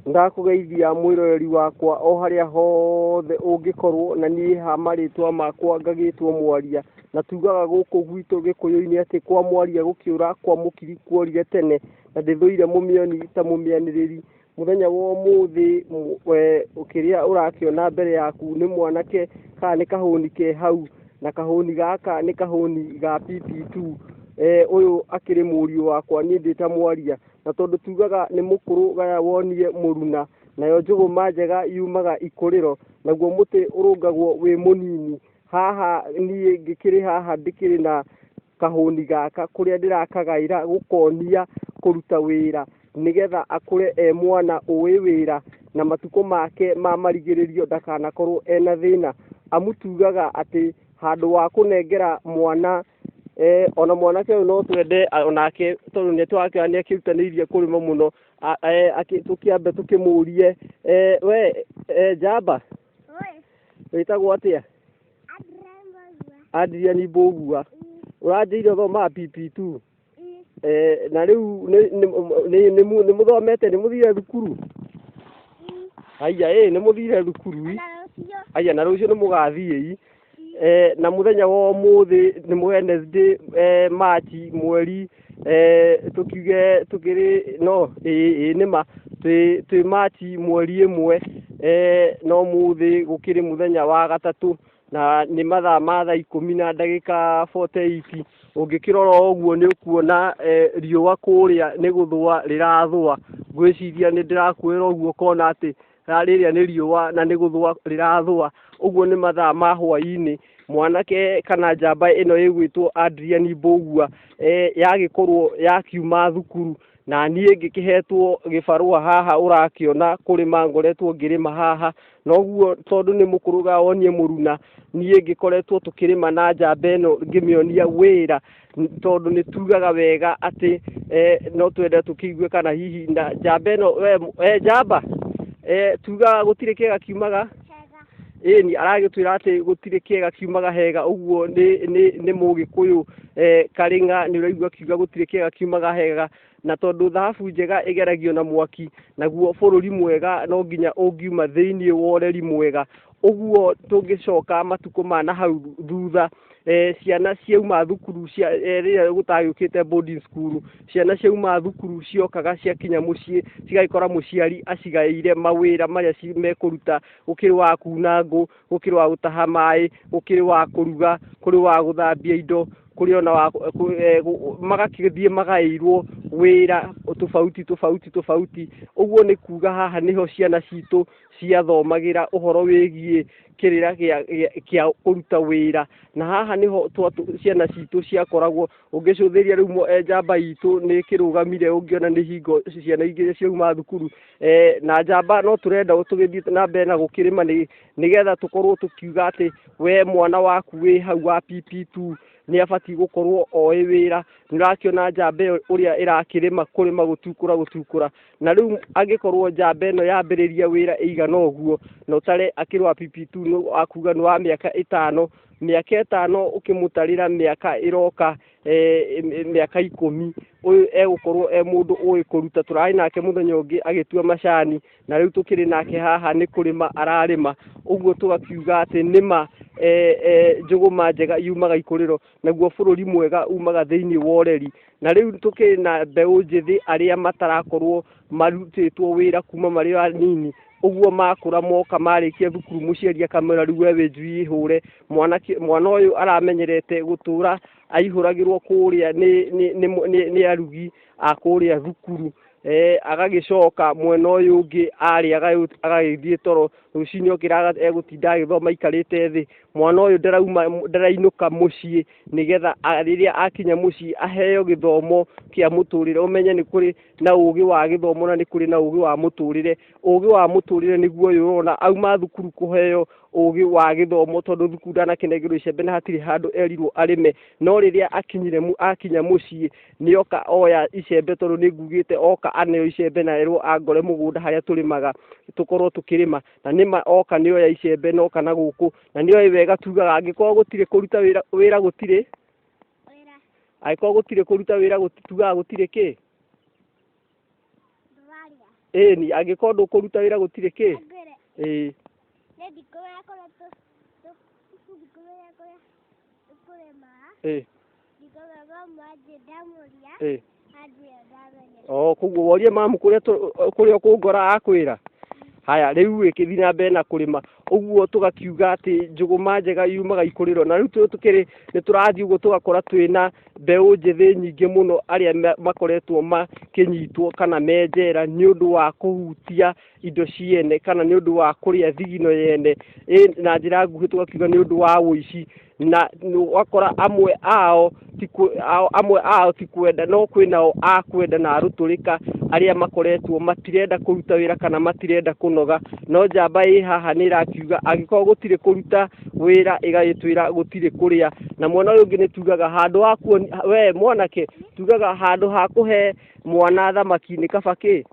Ndakũgeithia mwĩroreri wakwa o harĩa hothe ũngĩkorwo na niĩ ha marĩtwa makwa ngagĩtwo mwaria na tugaga gũkũ gwitũ gĩkũyũ-inĩ atĩ kwa mwaria gũkĩũra kwa mũkiri kworire tene na ndĩthũire mũmĩoni ta mũmĩanĩrĩri. Mũthenya wa ũmũthĩ kĩrĩa ũrakĩona mbere yaku nĩ mwanake kana nĩ kahũni ke hau na kahũni gaka nĩ kahũni ga PP2. Ũyũ akĩrĩ mũriũ wakwa niĩ ndĩ ta mwaria. na tondũ tugaga nĩ mũkũrũ gaya wonie mũruna nayo njũgũma njega yumaga ikũrĩro naguo mũtĩ ũrũngagwo wĩ mũnini haha niĩ ngĩkĩrĩ haha ndĩkĩrĩ na kahũni gaka kũrĩa ndĩrakagaĩra gũkonia kũruta wĩra nĩgetha akũre e mwana ũĩ wĩra na matukũ make ma marigĩrĩrio ndakanakorwo ena thĩna amu tugaga atĩ handũ wa kũnengera mwana Eh, ona mwanake ũyũ no twende a- onake tondũ nĩ tũrakĩra nĩ akĩrutanĩirie kũrĩma mũno A- eh, akĩ- tũkĩambe tũkĩmũrie eh, we eh, njamba Oi, wĩtagwo atĩa Adrian Bogua. andiriani mbũgua ũranjĩire thoma pipi tu Eh, na riu ni- ni- ni- ni mu- ni muthomete ni muthire thukuru haiya ĩ ni muthire thukuru i na rũciũ haiya na rũciũ nĩ mũgathiĩ i eh, na mũthenya wa ũmũthĩ nĩ mũ- Wednesday eh, March mweri eh, tũkiuge tũkĩrĩ no ĩ ĩ nĩ ma twĩ twĩ March mweri ĩmwe eh, no mũthĩ gũkĩrĩ mũthenya wa gatatũ na nĩ mathaa ma thaa ikũmi na ndagĩka 48 ũngĩkĩrora ũguo nĩ ũkuona eh, riũa kũrĩa nĩ gũthũa rĩrathũa ngwĩciria nĩ ndĩrakuĩra ũguo kona atĩ ra- rĩrĩa nĩ riũa na nĩ gũthũa rĩrathũa ũguo nĩ mathaa ma hwaĩ-inĩ mwanake kana njamba ĩno ĩgwĩtwo Adrian Mbũgua eh, yagĩkorwo yakiuma thukuru na niĩ ngĩkĩhetwo gĩbarũa haha ũrakĩona kũrĩma ngoretwo ngĩrĩma haha noguo tondũ nĩ mũkũrũga wonie mũruna niĩ ngĩkoretwo tũkĩrĩma na njamba ĩno ngĩmĩonia wĩra tondũ nĩ tugaga wega atĩ eh, no twende tũkĩigue kana hihi na njamba ĩno we eh, njamba eh, tugaga gũtirĩ kĩega kiumaga ĩni aragĩtwĩra atĩ gũtirĩ kĩega kiumaga hega ũguo nĩ nĩ nĩ mũgĩkũyũ eh, karĩng'a nĩ ũraigua akiuga gũtirĩ kĩega kiumaga hega na tondũ thahabu njega ĩgeragio na mwaki naguo bũrũri mwega no nginya ũngiuma thĩinĩ wa ũreri mwega ũguo tũngĩcoka matukũ ma na hau thutha eh, ciana ciauma thukuru cia eh, rĩrĩa gũtagĩũkĩte boarding school ciana ciauma thukuru ciokaga ciakinya mũciĩ cigagĩkora mũciari acigaĩire mawĩra marĩa ci- mekũruta gũkĩrĩ wa kuuna ngũ gũkĩrĩ wa gũtaha maĩ gũkĩrĩ wa kũruga kũrĩ wa gũthambia indo kũrĩ ona wa eh, magakĩthiĩ magaĩirwo wĩra tofauti tofauti tofauti ũguo nĩ kuga haha nĩho ciana citũ ciathomagĩra ũhoro wĩgiĩ kĩrĩra kĩa kũruta wĩra na haha nĩho ciana citũ ciakoragwo ũngĩcũthĩria rĩu mo- eh, njamba itũ nĩ kĩrũgamire ũngĩona nĩ hingo ciana ingĩ ciauma thukuru eh, na njamba no tũrenda tũgĩthiĩ na mbere na gũkĩrĩma nĩ nĩgetha tũkorwo tũkiuga atĩ we mwana waku wĩ hau wa PP2 nĩ abatiĩ gũkorwo oĩ wĩra nĩ ũrakĩona njamba ĩyo ũrĩa ĩrakĩrĩma kũrĩma gũtukũra gũtukũra na rĩu angĩkorwo njamba ĩno yambĩrĩria wĩra ĩigana ũguo na ũtare akĩrĩ wa PP2 nĩ akuga nĩ wa mĩaka ĩtano mĩaka ĩtano ũkĩmũtarĩra mĩaka ĩroka eh, mĩaka ikũmi ũyũ egũkorwo e mũndũ ũĩ kũruta tũrarĩ nake mũthenya ũngĩ agĩtua macani na rĩu tũkĩrĩ nake haha nĩ kũrĩma ararĩma ũguo tũgakiuga atĩ nĩma eh, eh, njũgũma njega yumaga ikũrĩro naguo bũrũri mwega umaga thĩinĩ wa ũreri na rĩu tũkĩrĩ na mbeũ njĩthĩ arĩa matarakorwo marutĩtwo wĩra kuma marĩ o anini ũguo makũra moka marĩkia thukuru mũciari akamera rĩu we wĩ njui ihũre mwanake mwana ũyũ aramenyerete gũtũra aihũragĩrwo kũrĩa nĩ, nĩ, nĩ, nĩ, nĩ arugi a kũrĩa thukuru eh, agagĩcoka mwena ũyũ ũngĩ arĩ agagĩthiĩ toro rũcinĩ okĩra egũtinda agĩthoma aikarĩte thĩ mwana ũyũ ndarauma ndarainũka mũciĩ nĩgetha rĩrĩa akinya mũciĩ aheo gĩthomo kĩa mũtũrĩre ũmenye nĩ kũrĩ na ũgĩ wa gĩthomo na nĩ kũrĩ na ũgĩ wa mũtũrĩre ũgĩ wa mũtũrĩre nĩguo ũyũ ũrona auma thukuru kũheo ũgĩ wa gĩthomo tondũ thukuru ndanakĩnengerwo icembe na hatirĩ handũ erirwo arĩme no rĩrĩa akinyire akinya mũciĩ nĩ oka oya icembe tondũ nĩ ngugĩte oka aneo icembe na erwo angore mũgũnda harĩa tũrĩmaga tũkorwo tũkĩrĩma na nĩma oka nĩ oya icembe na oka na gũkũ na nĩ oĩ wega tugaga angĩkorwo gũtirĩ kũruta wĩra wĩra gũtirĩ angĩkorwo gũtirĩ kũruta wĩra tugaga gũtirĩ kĩ ndwarĩa ĩĩ ni angĩkorwo ndũkũruta wĩra gũtirĩ kĩ ngwĩre ĩĩ nĩ ndikũ yakorwo ndikũrĩa yakũrĩa ndĩkũrĩma ĩĩ ndikũrĩma mwanjĩ ndamũria ĩĩ anjĩra ndamenyera o koguo worie mamu kũrĩa tũ- kũrĩa ũkũngora akwĩra haya rĩu ĩkĩthi na mbere na kũrĩma ũguo tũgakiuga atĩ njũgũma njega yumaga ikũrĩro na rĩu tũkĩrĩ nĩ tũrathiĩ ũguo tũgakora twĩna mbeũ njĩthĩ nyingĩ mũno arĩa makoretwo makĩnyitwo kana menjera nĩ ũndũ wa kũhutia indo ciene kana nĩ ũndũ wa kũrĩa thigino yene na njĩra nguhĩ tũgakiuga nĩ ũndũ wa ũici. na ũgakora amwe ao amwe ao ti kwenda no kwĩ nao a kwenda na arũtũrĩka arĩa makoretwo matirenda kũruta wĩra kana matirenda kũnoga no njamba ĩ haha nĩ ĩrakiuga angĩkorwo gũtirĩ kũruta wĩra ĩgagĩtwĩra gũtirĩ kũrĩa na mwena ũyũ ũngĩ nĩ tugaga handũ ha kuonia we mwanake tugaga handũ ha kũhe mwana thamaki nĩ kaba kĩ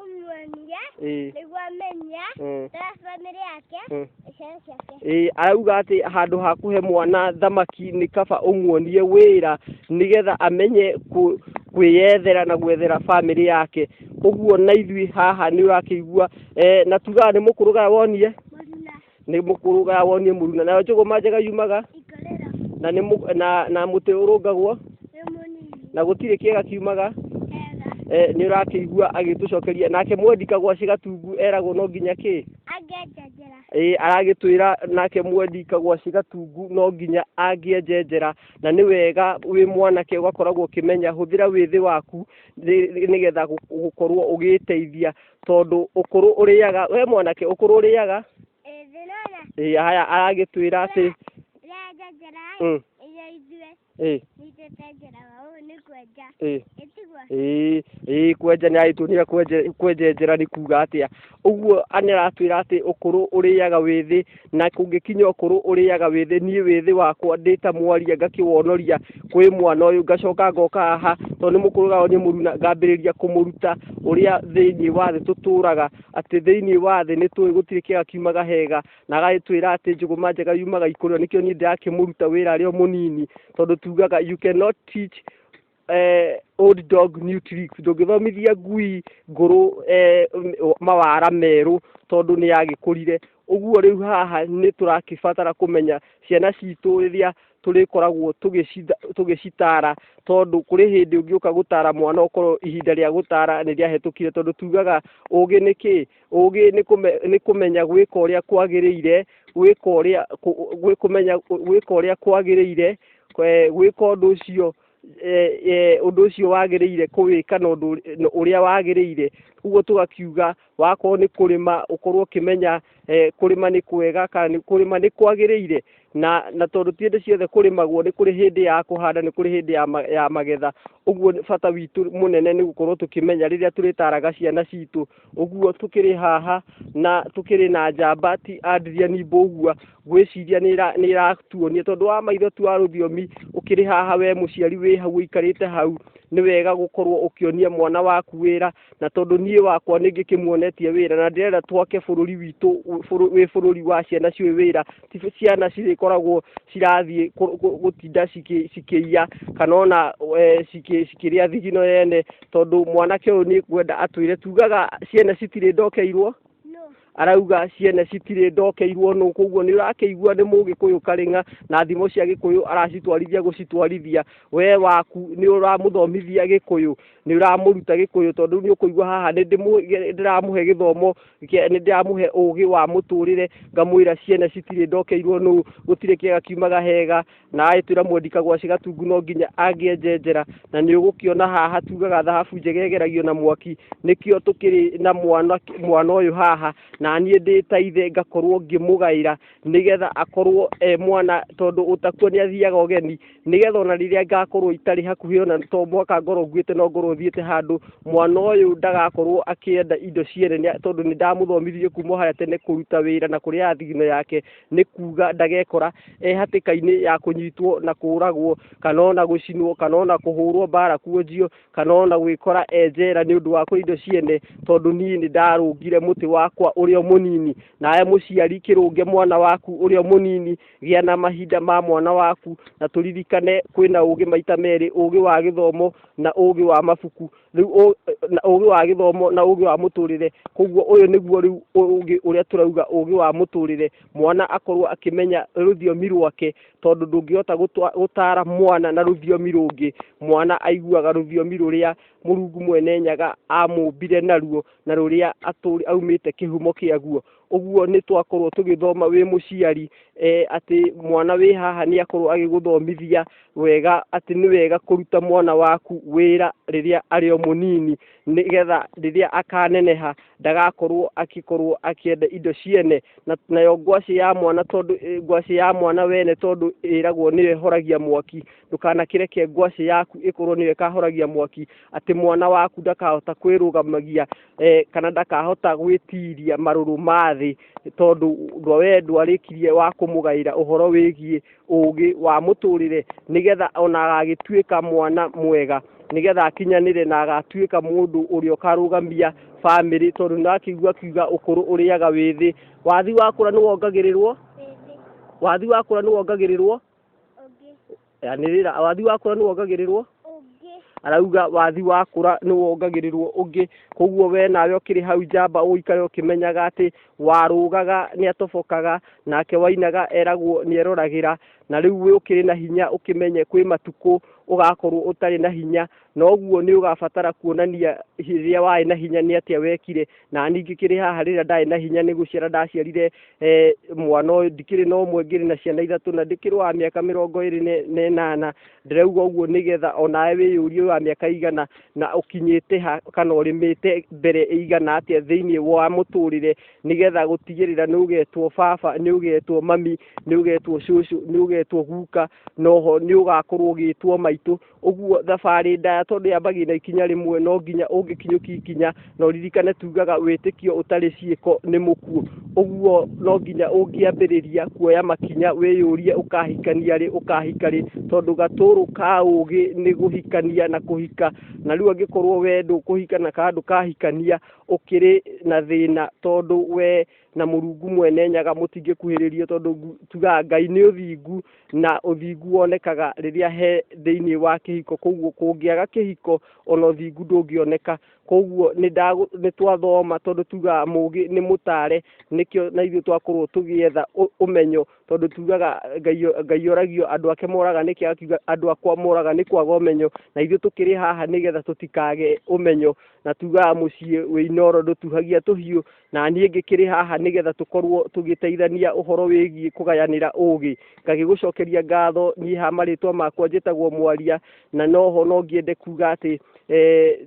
ũmuonia Ĩĩ. nĩguo amenya Mm. ta bamĩrĩ yake Mm. na ciana ciake Ĩĩ, arauga atĩ handũ ha kũhe mwana thamaki nĩ kaba ũmuonie wĩra nĩgetha amenye kũ- kwĩyethera na gwethera bamĩrĩ yake ũguo na ithuĩ haha nĩ ũrakĩigua eh, na tugaga nĩ mũkũrũgaya wonie nĩ mũkũrũga wonie mũru na nayo njũgũma njega yumaga ikarera na nĩ mũ- na na mũtĩ ũrũngagwo nĩ mũnini na gũtirĩ kĩega kiumaga hega eh, nĩ ũrakĩigua agĩtũcokeria nake mwendi kagwa cigatungu eragwo no nginya kĩ angenjejera ĩĩ aragĩtwĩra nake mwendi kagwa cigatungu no nginya angĩenjenjera na nĩ wega wĩ mwanake ũgakoragwo ũkĩmenya hũthĩra wĩthĩ waku nĩ- nĩgetha gũ- gũkorwo ũgĩĩteithia tondũ ũkũrũ ũrĩaga we mwanake ũkũrũ ũrĩaga ĩĩ haya aragĩtwĩra atĩ mm. ĩĩ ĩĩ kwenja nĩ aragĩtuonia kwenjenjera nĩ kuga atĩa ũguo nĩ aratwĩra atĩ ũkũrũ ũrĩaga wĩ thĩ na kũngĩkinya ũkũrũ ũrĩaga wĩthĩ niĩ wĩthĩ wakwa ndĩ ta mwaria ngakĩwonoria kwĩ mwana ũyũ ngacoka ngoka haha tondũ nĩ mũkũrũ gao nĩ mũruna ngambĩrĩria kũmũruta ũrĩa thĩinĩ wa thĩ tũtũraga atĩ thĩinĩ wa thĩ nĩ tũĩ gũtirĩ kĩega kiumaga hega na agagĩtwĩra atĩ njũgũma njega yumaga ikũrĩa nĩkĩo niĩ ndĩrakĩmũruta wĩra arĩ o mũnini tondũ tugaga you cannot teach Old Dog New Tricks, ndũngĩthomithia ngui ngũrũ mawara merũ tondũ nĩ yagĩkũrire. Ũguo rĩu haha nĩ tũragĩbatara kũmenya ciana citũ rĩrĩa tũrĩkoragwo tũgĩcitara tondũ kũrĩ hĩndĩ ũngĩũka gũtara mwana ũkorwo ihinda rĩa gũtara nĩ rĩahĩtũkire tondũ tugaga ũgĩ nĩ kĩĩ? Ũgĩ nĩ kũmenya gwĩka ũrĩa kwagĩrĩire, gwĩka ũrĩa kwagĩrĩire, gwĩka ũndũ ũcio. ũndũ ũcio wagĩrĩire kũwĩka na ũndũ ũrĩa wagĩrĩire ũguo tũgakiuga wakorwo nĩ kũrĩma ũkorwo ũkĩmenya kũrĩma nĩ kwega kana kũrĩma nĩ kwagĩrĩire na na tondũ ti hĩndĩ ciothe kũrĩmagwo nĩ kũrĩ hĩndĩ ya kũhanda nĩ kũrĩ hĩndĩ ya magetha ũguo bata witũ mũnene nĩ gũkorwo tũkĩmenya rĩrĩa tũrĩtaraga ciana citũ ũguo tũkĩrĩ haha na tũkĩrĩ na njamba ti a Ndiria ni Mbũgua. ngwĩciria nĩ ĩra- nĩ ĩratuonia tondũ wa maitho tu wa rũthiomi ũkĩrĩ haha we mũciari wĩ hau ũikarĩte hau nĩ wega gũkorwo ũkĩonia mwana waku wĩra na tondũ niĩ wakwa nĩ ngĩkĩmuonetie wĩra na ndĩrenda twake bũrũri witũ wĩ- bũrũ- wĩ bũrũri wa ciana ciũĩ wĩra ti ciana cirĩkoragwo cirathiĩ kũ- kũ- gũtinda cikĩ- cikĩiya kana ona eh, cikĩ- cikĩrĩa thigino yene tondũ mwanake ũyũ nĩ kwenda atwĩre tugaga ciana citirĩ ndokeirwo arauga ciene citirĩ ndokeirwo nũ koguo nĩ ũrakĩigua nĩ mũgĩkũyũ karĩng'a na thimo cia gĩkũyũ aracitwarithia gũcitwarithia we waku nĩ ũramũthomithia gĩkũyũ nĩ ũramũruta gĩkũyũ tondũ nĩ ũkũigua haha nĩ ndĩramũhe gĩthomo nĩ ndĩramũhe ũgĩ wa mũtũrĩre ngamwĩra ciene citirĩ ndokeirwo nũ gũtirĩ kĩega kiumaga hega na agĩtwĩra mwendi kagwacĩ gatungu no nginya angĩenjenjera na nĩ ũgũkĩona haha tugaga thahabu njega ĩgeragio na mwaki nĩkĩo tũkĩrĩ na mwana mwana ũyũ haha na niĩ ndĩ ta ithe ngakorwo ngĩmũgaĩra nĩgetha akorwo e mwana tondũ ũtakua nĩ athiaga ũgeni nĩgetha ona rĩrĩa ngakorwo itarĩ hakuhĩ ona to mwaka ngorwo nguĩte no ngorwo thiĩte handũ mwana ũyũ ndagakorwo akĩenda indo ciene tondũ nĩ ndamũthomithirie kuma harĩa tene kũruta wĩra na kũrĩaga thigino yake nĩ kuuga ndagekora e hatĩka-inĩ ya kũnyitwo na kũũragwo kana ona gũcinwo kana ona kũhũrwo mbara kuonjio kana ona gwĩkora e njera nĩ ũndũ wa kũrĩa indo ciene tondũ niĩ nĩ ndarũngire mũtĩ wakwa ũrĩa mũnini nawe mũciari kĩrũnge mwana waku ũrĩa mũnini gĩa na mahinda ma mwana waku na tũririkane kwĩna ũgĩ maita merĩ ũgĩ wa gĩthomo na ũgĩ wa mabuku rĩu ũ- na ũgĩ wa gĩthomo na ũgĩ wa mũtũrĩre koguo ũyũ nĩguo rĩu ũgĩ ũrĩa tũrauga ũgĩ wa mũtũrĩre mwana akorwo akĩmenya rũthiomi rwake tondũ ndũngĩhota gũtwa- gũtara mwana na rũthiomi rũngĩ mwana aiguaga rũthiomi rũrĩa mũrungu mwene nyaga amũmbire naruo na rũrĩa atũrĩ aumĩte kĩhumo kĩaguo ũguo nĩ twakorwo tũgĩthoma wĩ mũciari eh, atĩ mwana wĩ haha nĩ akorwo agĩgũthomithia wega atĩ nĩ wega kũruta mwana waku wĩra rĩrĩa arĩ o mũnini nĩgetha rĩrĩa akaneneha ndagakorwo akĩkorwo akĩenda indo ciene na nayo ngwacĩ ya mwana tondũ eh, ngwacĩ ya mwana wene tondũ ĩragwo nĩyo ĩhoragia mwaki ndũkanakĩreke ngwacĩ yaku ĩkorwo nĩyo ĩkahoragia mwaki atĩ mwana waku ndakahota kwĩrũgamagia eh, kana ndakahota gwĩtiria marũrũ ma thĩ tondũ ũndũ we ndwarĩkirie wa kũmũgaĩra ũhoro wĩgiĩ ũũgĩ wa mũtũrĩre nĩgetha ona agagĩtuĩka mwana mwega nĩgetha akinyanĩre na agatuĩka mũndũ ũrĩa ũkarũgamia bamĩrĩ tondũ nĩrakĩigua akiuga ũkũrũ ũrĩaga wĩ thĩ wathi wakũra nĩwongagĩrĩrwo Ĩndĩ wathi wakũra nĩwongagĩrĩrwo ũngĩ yanĩrĩra wathi wakũra nĩ wongagĩrĩrwo arauga wathi wakũra nĩ wongagĩrĩrwo ũngĩ koguo we nawe ũkĩrĩ hau njamba ũikare ũkĩmenyaga atĩ warũgaga nĩ atobokaga nake wainaga eragwo nĩ eroragĩra na rĩu ũkĩrĩ na hinya ũkĩmenye kwĩ matukũ ũgakorwo ũtarĩ na hinya noguo nĩ ũgabatara kuonania rĩrĩa warĩ na hinya nĩ atĩa wekire na ningĩ kĩrĩ haha rĩrĩa ndarĩ na hinya nĩ gũciara ndaciarire eh, mwana ũyũ ndikĩrĩ na ũmwe ngĩrĩ na ciana ithatũ na ndĩkĩrĩ wa mĩaka mĩrongo ĩrĩ ne- na ĩnana ndĩrauga ũguo nĩgetha onawe wĩyũrie wa mĩaka igana na ũkinyĩte ha kana ũrĩmĩte mbere igana atĩa thĩinĩ wa mũtũrĩre nĩgetha gũtigĩrĩra nĩ ũgetwo baba nĩ ũgetwo mami nĩ ũgetwo cũcũ nĩ ũgetwo guka noho nĩ ũgakorwo ũgĩtwo maitũ ũguo thabarĩ ndaya tondũ yambagia na ikinya rĩmwe no nginya ũngĩkinyũkia ikinya na ũririkane tugaga wĩtĩkio ũtarĩ ciĩko nĩ mũkuo ũguo no nginya ũngĩambĩrĩria kuoya makinya wĩyũrie ũkahikania rĩ ũkahika rĩ tondũ gatũrũ ka ũgĩ nĩ gũhikania na kũhika na rĩu angĩkorwo we ndũkũhika na kandũ kahikania ũkĩrĩ na thĩna tondũ we na mũrungu mwene nyaga mũtingĩkuhĩrĩrio tondũ ngu- tugaga ngai nĩ ũthingu na ũthingu wonekaga rĩrĩa he thĩinĩ wa kĩhiko koguo kũngĩaga kĩhiko ona ũthingu ndũngĩoneka koguo nĩ ndagũ- nĩ twathoma tondũ tugaga mũgĩ nĩ mũtare nĩkĩo na ithuĩ twakorwo tũgĩetha ũ- ũmenyo tondũ tugaga ngai o- ngai oragio andũ ake moraga nĩkĩ akiuga andũ akwa moraga nĩ kwaga ũmenyo na ithuĩ tũkĩrĩ haha nĩgetha tũtikage ũmenyo na tugaga mũciĩ wĩ inoro ndũtuhagia tũhiũ na niĩ ngĩkĩrĩ haha nĩgetha tũkorwo tũgĩteithania ũhoro wĩgiĩ kũgayanĩra ũũgĩ ngagĩgũcokeria ngatho niĩ ha marĩtwa makwa njĩtagwo mwaria na noho no ngĩende kuga atĩ e,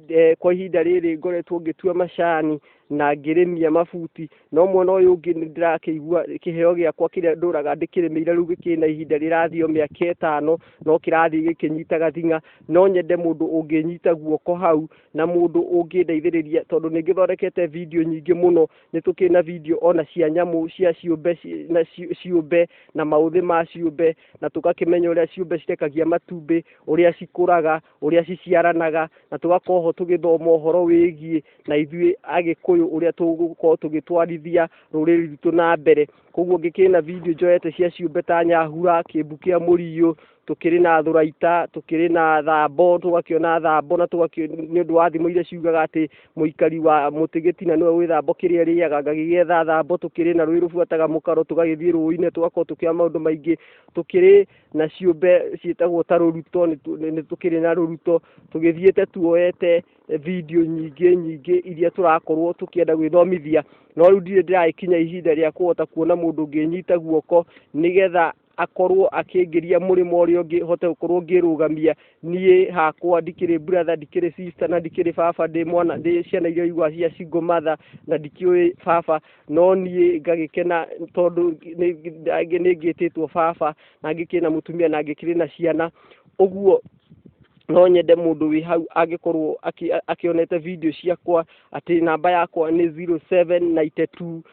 e, kwa ihinda rĩrĩ ngoretwo ngĩtua macani na ngĩrĩmia mabuti no mwena ũyũ ũngĩ nĩ ndĩrakĩigua kĩheo gĩakwa kĩrĩa ndũraga ndĩkĩrĩmĩire rĩu gĩkĩrĩ na ihinda rĩrathiĩ o mĩaka ĩtano no kĩrathiĩ gĩkĩnyitaga thing'a no nyende mũndũ ũngĩnyita guoko hau na mũndũ ũngĩndeithĩrĩria tondũ nĩ ngĩthondekete video nyingĩ mũno nĩ tũkĩrĩ na video ona cia nyamũ cia ciũmbe ci- na ci- ciũmbe na maũthĩ ma ciũmbe na tũgakĩmenya ũrĩa ciũmbe cirekagia matumbĩ ũrĩa cikũraga ũrĩa ciciaranaga na tũgakorwo ho tũgĩthoma ũhoro wĩgiĩ na ithuĩ agĩkũyũ ũrĩa tũgũkorwo tũgĩtwarithia rũrĩrĩ rwitũ na mbere koguo ngĩkĩrĩ na video njoete cia ciũmbe ta nyahura kĩmbu kĩa mũriũ tũkĩrĩ na thuraita tũkĩrĩ na thambo tũgakĩona thambo na nĩ ũndũ wa thimo iria ciugaga atĩ mũikari wa mũtĩ gĩtina nĩwe wĩ thambo kĩrĩa rĩaga ngagĩgetha thambo tũkĩrĩ na rũĩ rũbuataga mũkaro tũgagĩthiĩ rũĩ-inĩ tũgakorwo tũkĩoya maũndũ maingĩ tũkĩrĩ na ciũmbe ciĩtagwo ta rũruto nĩ tũkĩrĩ na rũruto tũgĩthiĩte tuoete video nyingĩ nyingĩ iria tũrakorwo tũkĩenda gwĩthomithia no rĩu ndirĩ ndĩragĩkinya ihinda rĩa kũhota kuona mũndũ ũngĩnyita guoko nĩgetha akorwo akĩngĩria mũrĩmo ũrĩa ũngĩ hote gũkorwo ngĩrũgamia niĩ hakwa ndikĩrĩ brother ndikĩrĩ sister na ndikĩrĩ baba ndĩ mwana ndĩ ciana iria igwa cia single mother na ndikĩũĩ baba no niĩ ngagĩkena tondũ nĩ ngĩtĩtwo baba na ngĩkĩrĩ na mũtumia na ngĩkĩrĩ na ciana ũguo no nyende mũndũ wĩ hau angĩkorwo akĩonete video ciakwa atĩ namba yakwa nĩ 0792